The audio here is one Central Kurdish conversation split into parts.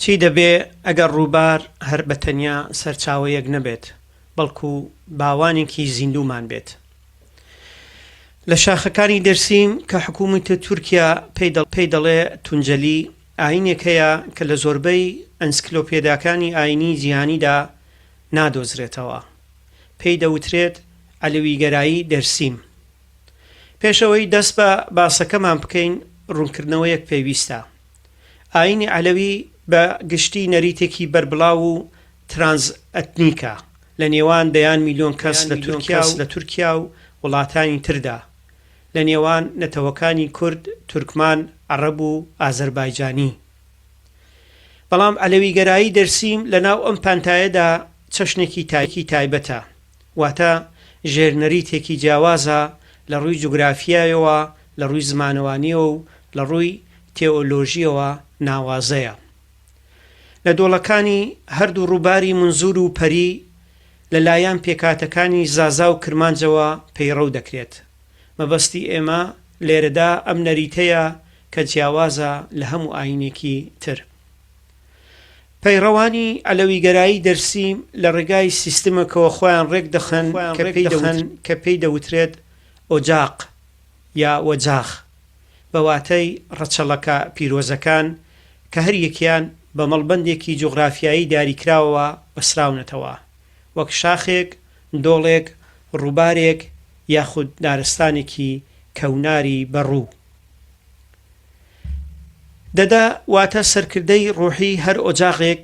چی دەبێ ئەگەر ڕووبار هەر بە تەنیا سەرچاوەیەک نەبێت، بەڵکو باوانێکی زیندوومان بێت؟ لە شاخەکانی دەرسیم کە حکوومەتی تورکیا پێی دەڵێ تونجەلی، ئایینێک هەیە کە لە زۆربەی ئەنسکلۆپێداکانی ئایینیی جیهانیدا نادۆزرێتەوە، پێی دەوترێت عەلەویگەرایی دەرسیم. پێش ئەوەی دەست بە باسەکەمان بکەین، ڕوونکردنەوەیەک پێویستە. ئایینی عەلەوی بە گشتی نەریتێکی بەربڵاو و ترانس ئەتنیکە لە نێوان دەیان میلیۆن کەس لە تورکیا و وڵاتانی تردا، لە نێوان نەتەوەکانی کورد، تورکمان، عەڕەب و ئازەربایجانی. بەڵام عەلەویگەرایی دەرسیم لە ناو ئەم پانتایەدا چەشنێکی تایبەتە. واتە ژێرنەریتێکی جیاوازە لە ڕووی جوگرافیایەوە، لە ڕووی زمانەوانییەوە و لە ڕووی تێئۆلۆژییەوە ناوازەیە. لە دۆڵەکانی هەردوو ڕووباری منزور و پەری لە لایەن پێکهاتەکانی زازا و کرمانجەوە پەیڕەو دەکرێت. مەبەستی ئێمە لێرەدا ئەم نەریتەیە کە جیاوازە لە هەموو ئایینێکی تر. پەیڕەوانی عەلەویگەرایی دەرسی لە ڕێگای سیستمێکەوە خۆیان ڕێکدەخەن کە پێی دەوترێت ئۆجاق یا وەجاخ بە واتای ڕەچەڵەکە پیرۆزەکان کە هەر یەکیان بە مەڵبەندێکی جوغرافیایی دیاریکراوەوە بەسراونەتەوە وەک شاخێک، دۆڵێک، ڕووبارێک یاخود دارستانێکی کەوناری بەڕوو. دەدا، واتە سەرکردەی ڕوحی هەر ئۆجاغێک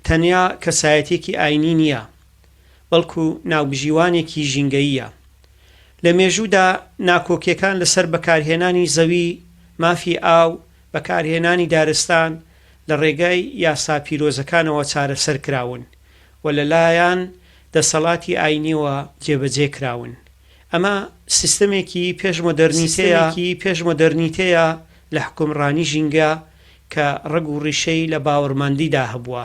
تەنیا کەسایەتیەکی ئاینی نیە، بەڵکو ناوبژیوانێکی ژینگەییە. لە مێژوودا ناکۆکیەکان لەسەر بەکارهێنانی زەوی، مافی ئاو، بەکارهێنانی دارستان لە ڕێگای یاسا پیرۆزەکانەوە چارەسەر کراون و لەلایان دەسەڵاتی ئاینیەوە جێبەجێ کراون. ئەمە سیستەمێکی پێش مۆدێرنیتەیە لە حوکمڕانی ژینگە کە ڕەگ و ڕیشەی لە باوەڕمەندیدا هەبووە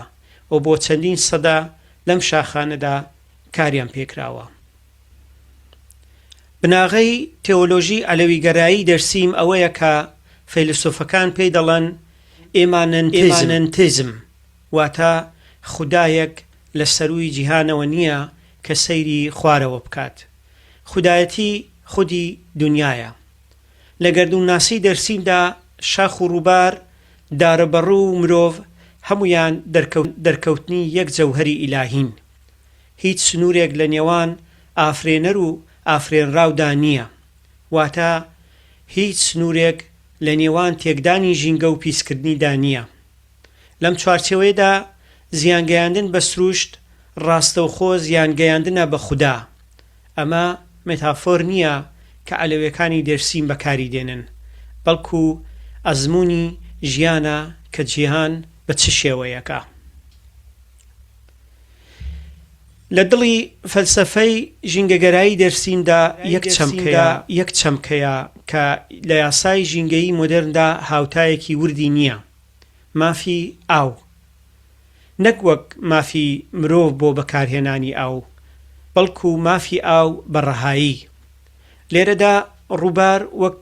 و بۆ چەندین سەدە لەم شاخانەدا کاریان پێکراوە. بناغەی تێۆلۆژی عەلەویگەرایی دەرسیم ئەوەیە کە فەیلەسوفەکان پێی دەڵێن ئیمانەنتیزم. واتە، خودایەک لە سەرووی جیهانەوە نییە کە سەیری خوارەوە بکات. خودایەتی خودی دونیایە. لە گەردوونناسیی دەرسیمدا شاخ و ڕووبار، دارەبەڕوو و مرۆڤ هەموویان دەرکەوتنی یەک جەوهەری ئیلاهین. هیچ سنوورێک لە نێوان ئافرێنەر و ئافرێنراودا نییە. واتە، هیچ سنوورێک لە نێوان تێکدانی ژینگە و پیسکردنیدا نییە. لەم چوارچێوەیەدا زیان گەیاندن بە سروشت ڕاستەوخۆ زیان گەیاندنە بە خودا. ئەمە مێتافۆر نییە کە عەلەوێکانی دێرسیم بەکاری دێنن، بەڵکو ئەزموونی ژیانە کە جیهان بە چ شێوەیەکە. لە دڵی فەلسەفەی ژینگەگەرایی دێرسیمدا یەک چەمکەیە کە لە یاسای ژینگەیی مۆدێرندا هاوتایەکی وردی نییە. مافی ئاو نەک وەک مافی مرۆڤ بۆ بەکارهێنانی ئاو، بەڵکو مافی ئاو بە ڕەهایی. لێرەدا ڕووبار وەک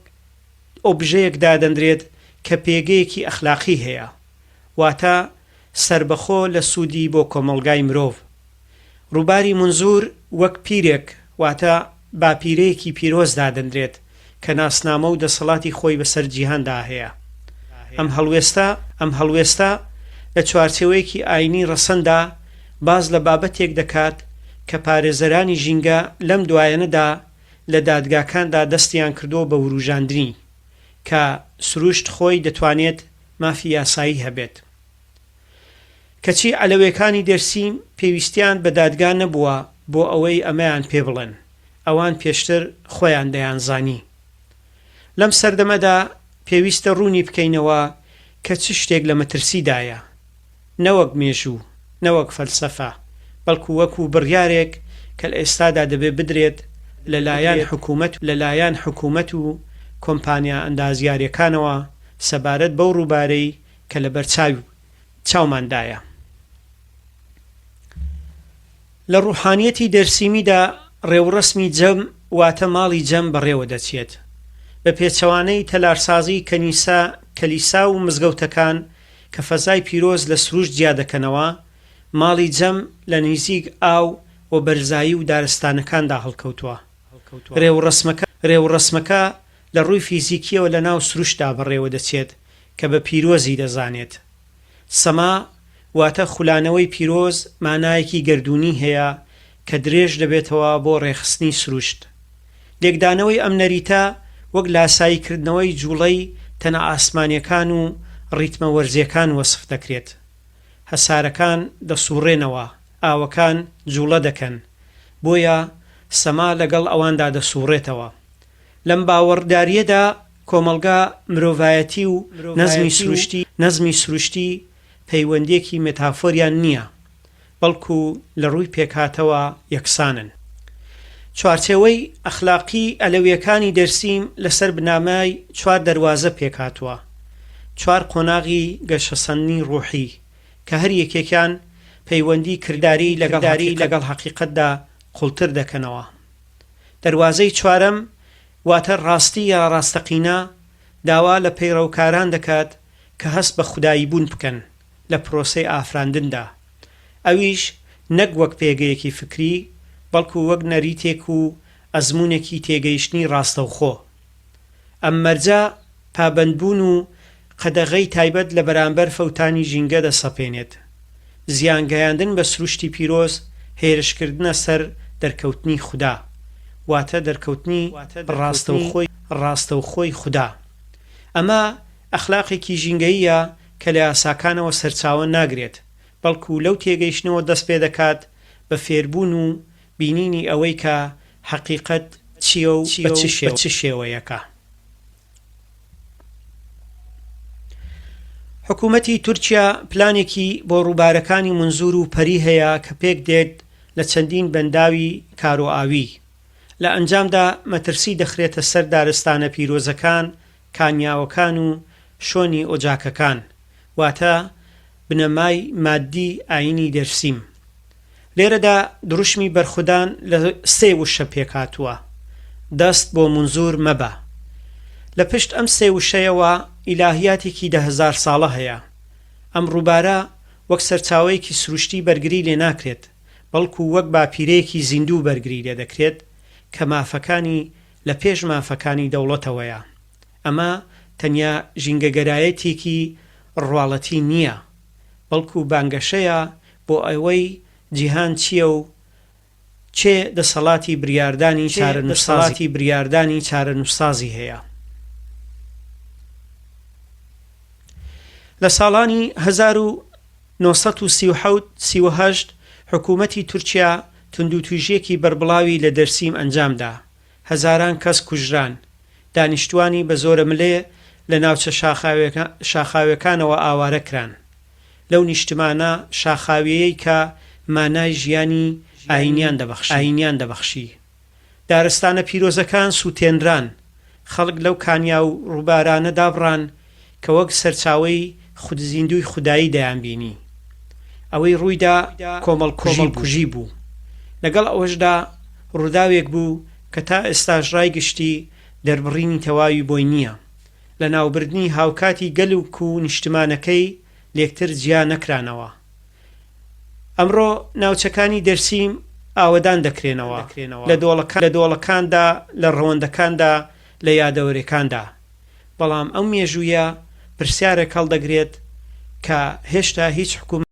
ئۆبژەیەک دادەنرێت کە پێگەیەکی ئەخلاقی هەیە، واتە سەربەخۆ لە سوودی بۆ کۆمەڵگای مرۆڤ. ڕووباری مونزور وەک پیرێک واتە باپیرەیەکی پیرۆز دادەنرێت کە ناسنامە و دەسەڵاتی خۆی بەسەر جیهاندا هەیە. ئەم هەڵوێستە ئەم هەڵوێستە لە چوارچێوەیەکی ئاینی ڕەسەندا باس لە بابەتێک دەکات کە پارێزەرانی ژینگە لەم دوایەنەدا لە دادگاکاندا دەستیان کردووە بە وروژاندنی کە سروشت خۆی دەتوانێت مافی یاسایی هەبێت کەچی عەلەوێکانی دێرسیم پێویستیان بە دادگا نەبووە بۆ ئەوەی ئەمەیان پێ بڵێن، ئەوان پێشتر خۆیان دەیانزانی. لەم سەردەمەدا پێویستە ڕوونی بکەینەوە کە چ شتێک لە مەترسیدایە، نەوەک مێژوو، نەوەک فەلسەفە، بەڵکو وەکو بڕیارێک کە لە ئێستادا دەبێ بدرێت لە لایەن حکوومەت و کۆمپانیا ئەندازیارییەکانەوە سەبارەت بەو ڕووبارەی کە لە بەرچاوی چاومان دایە. لە ڕوحانیەتی دەرسیمیدا ڕێوڕەسمی جەم واتە ماڵی جەم بەڕێوە دەچێت. بە پێچەوانەی تەلارسازی کەنیسە، کلیسا و مزگەوتەکان کە فەزای پیرۆز لە سروشت جیا دەکەنەوە، ماڵی جەم لە نیزیک ئاو و بەرزایی و دارستانەکاندا هەڵکەوتووە. ڕێوڕەسمەکە لە ڕووی فیزیکیەوە لە ناو سروشتدا بەڕێوە دەچێت. کە بە پیرۆزی دەزانێت. سەما واتە خولانەوەی پیرۆز مانایەکی گەردوونی هەیە کە درێژ دەبێتەوە بۆ ڕێکخستنی سروشت. لێکدانەوەی ئەم نەریتە وەک لاسایی کردنەوەی جووڵەی تەنە ئاسمانیەکان و ڕیتمە وەرزیەکان وەسف دەکرێت. هەسارەکان دەسووڕێنەوە، ئاوەکان جووڵە دەکەن، بۆیە سەما لەگەڵ ئەواندا دەسووڕێتەوە. لەم باوەڕداریەدا، کۆمەڵگا، مرۆڤایەتی و نەزمی سروشتی، نەزمی سروشتی پەیوەندیەکی مێتافۆریان نیە، بەڵکو لە ڕووی پێکهاتەوە یەکسانن. چوارچێوەی ئەخلاقی ئەلەویەکانی دەرسیم لەسەر بنامای چوار دەروازە پێکهاتووە، چوار قۆناغی گەشەسەندنی ڕوحی، کە هەر یەکێکیان پەیوەندی کرداری لەگەڵ هەقیقەتدا قوڵتر دەکەنەوە. دەروازەی چوارەم، واتە ڕاستی یا ڕاستەقینە داوا لە پەیڕەوکاران دەکات کە هەست بە خوداییبوون بکەن لە پرۆسەی ئافراندندا، ئەویش نەک وەک پێگەیەکی فکری، بەڵکو وەک نەریتێک و ئەزموونێکی تێگەیشتنی ڕاستەوخۆ. ئەم مەرجە پابەندبوون و قەدەغەی تایبەت لە بەرامبەر فەوتانی ژینگە دەسەپێنێت. زیانگەیاندن بە سروشتی پیرۆز هێرشکردنە سەر دەرکەوتنی خودا، واتە دەرکەوتنی ڕاستەوخۆی ڕاستەوخۆی خودا. ئەمە ئەخلاقێکی ژینگەییە کە لە یاساکانەوە سەرچاوە ناگرێت، بەڵکو لەو تێگەیشتنەوە دەست پێدەکات بە فێربوون و بینینی ئەوەی کە حەقیقەت چییە و بە چ شێوەیەکە. حکوومەتی تورکیا پلانێکی بۆ ڕووبارەکانی منزور و پەری هەیە کە پێک دێت لە چەندین بەنداوی کارۆئاوی. لە ئەنجامدا مەترسی دەخرێتە سەر دارستانە پیرۆزەکان کانیاوەکان و شۆنی ئۆجاکەکان، واتە بنەمای ماددی ئایینی دەرسیم. لێرەدا دروشمی بەرخودان لە سێ وشە پێکهاتووە، دەست بۆ مونزور مەبە. لە پشت ئەم سێ وشەیەوە ئیلاهیاتێکی دە هەزار ساڵە هەیە. ئەم ڕووبارە وەک سەرچاوەیەکی سروشتی بەرگری لێ ناکرێت، بەڵکو وەک باپیرەیەکی زیندوو بەرگری لێ دەکرێت کە مافەکانی لە پێش مافەکانی دەوڵەتەوەیە. ئەمە تەنیا ژینگەگەرایەتیێکی ڕواڵەتی نییە، بەڵکو بانگەشەیە بۆ ئەوەی جیهان چییە و کێ دەسەڵاتی بریاردانی چارەنووسسازی هەیە. لە ساڵانی هەزار و نۆ سەد و سی و حەوت، سی و هەشت حکوومەتی تورکیا توندوتوژییەکی بەربڵاوی لە دەرسیم ئەنجامدا، هەزاران کەس کوژران، دانیشتووانی بە زۆرەملێ لە ناوچە شاخاویەکانەوە ئاوارە کران، لەو نیشتمانە شاخاویەیەی کە مانای ژیانی ئایینیان دەبەخشی. دارستانە پیرۆزەکان سووتێنران، خەڵک لەو کانیا و ڕووبارانە دابڕان کە وەک سەرچاوەی خودزیندووی خودایی دەیانبینی. ئەوەی ڕوویدا کۆمەڵکوژی بوو. لەگەڵ ئەوەشدا ڕووداوێک بوو کە تا ئێستاش ڕای گشتی دەربڕینی تەواوی بۆی نییە. لەناوبردنی هاوکاتی گەلوک و نیشتمانەکەی لێکتر جیا نەکرانەوە. ئەمڕۆ ناوچەکانی دەرسیم ئاوەدان دەکرێنەوە لە دۆڵەکان، لە دۆڵەکاندا، لە ڕەوەندەکاندا، لە یادەوەرێکاندا. بەڵام ئەم مێژوویە پرسیارێک هەڵدەگرێت کە هێشتا هیچ حکومەت.